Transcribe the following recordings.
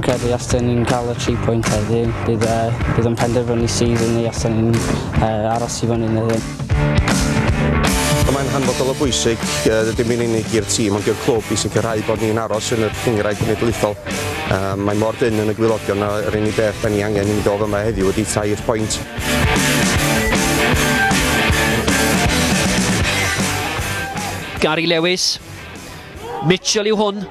credu os dyn ni'n cael y 3 pwynt heddiw, bydd, uh, bydd yn penderfynu sydd yn ei os dyn ni'n uh, aros i fyny neu ddim. Mae'n hanfodol o bwysig, uh, ddim yn unig i'r tîm ond i'r clwb i sicrhau bod ni'n aros yn yr cyngraid genedlaethol. Yy mae mor dynn yn y gwylogion na yr unig beth da ni angen i ni dod yma heddiw ydi tair point. Gary Lewis. Mitchell yw hwn.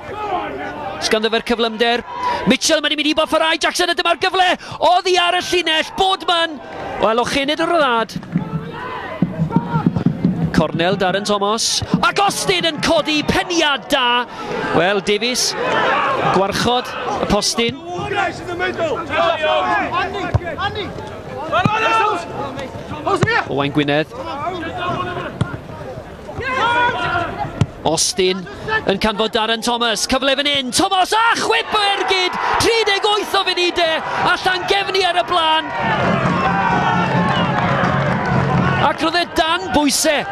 Sganddyfer cyflymder. Mitchell mae'n mynd i boffarau Jackson a dyma'r gyfle. Oddi ar y llinell. Boardman. O alochynid y rhyddhad. Cornel Darren Thomas. Ac Austin yn codi peniad da. Wel, Davies, gwarchod y postyn. Owain Gwynedd. Austin yn canfod Darren Thomas, cyfle fan hyn, Thomas a chwip o ergyd, 38 o funudau e, a Llangefni ar y blaen. Ac roedd e dan bwysau,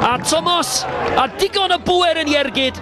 a Thomas a digon o bwer yn iergyd,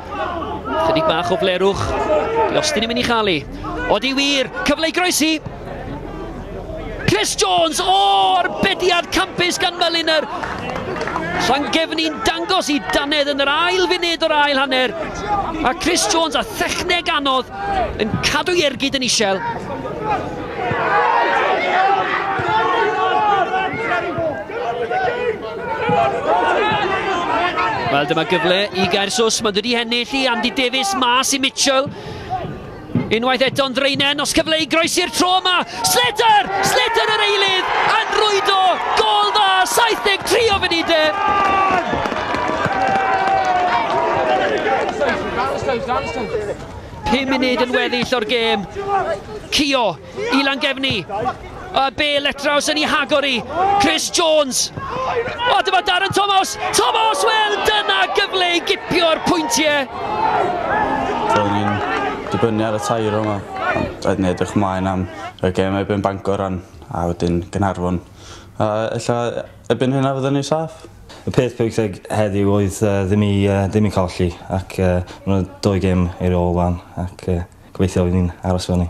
Chydig bach o flerwch. Di Austin yn mynd i chael ei. Odi wir, cyfle i groesi. Chris Jones, o, oh, arbediad campus gan Meliner. Llangefni'n dangos i Danedd yn yr ail funud o'r ail hanner. A Chris Jones a thechneg anodd yn cadw i ergyd yn isel. Wel, dyma gyfle i Gaersws. Mae'n dod i hennill i Andy Davies mas i Mitchell. Unwaith eto'n ddreinen, os cyfle i groesi'r tro yma. Slater! Slater yr eilydd! Yn rwydo! Gol dda! 73 o funudau! Pum munud yn weddill o'r gêm. Cio I Langefni. A be letraws yn ei hagor i. Chris Jones. O, dyma Darren Thomas. Thomas, wel, dyna gyfle i gipio'r pwyntiau. Do'n i'n dibynnu ar y tair yma. Ond oedd ni edrych mlaen am y gem ebyn Bangor rhan a wedyn Gynarfon. A ella ebyn hynna fyddwn ni saff. Y peth pwysig heddiw oedd uh, ddim, i, uh, ddim i colli ac uh, mae'n dwy gem i'r ôl fan ac uh, gobeithio fydd ni'n aros fan ni.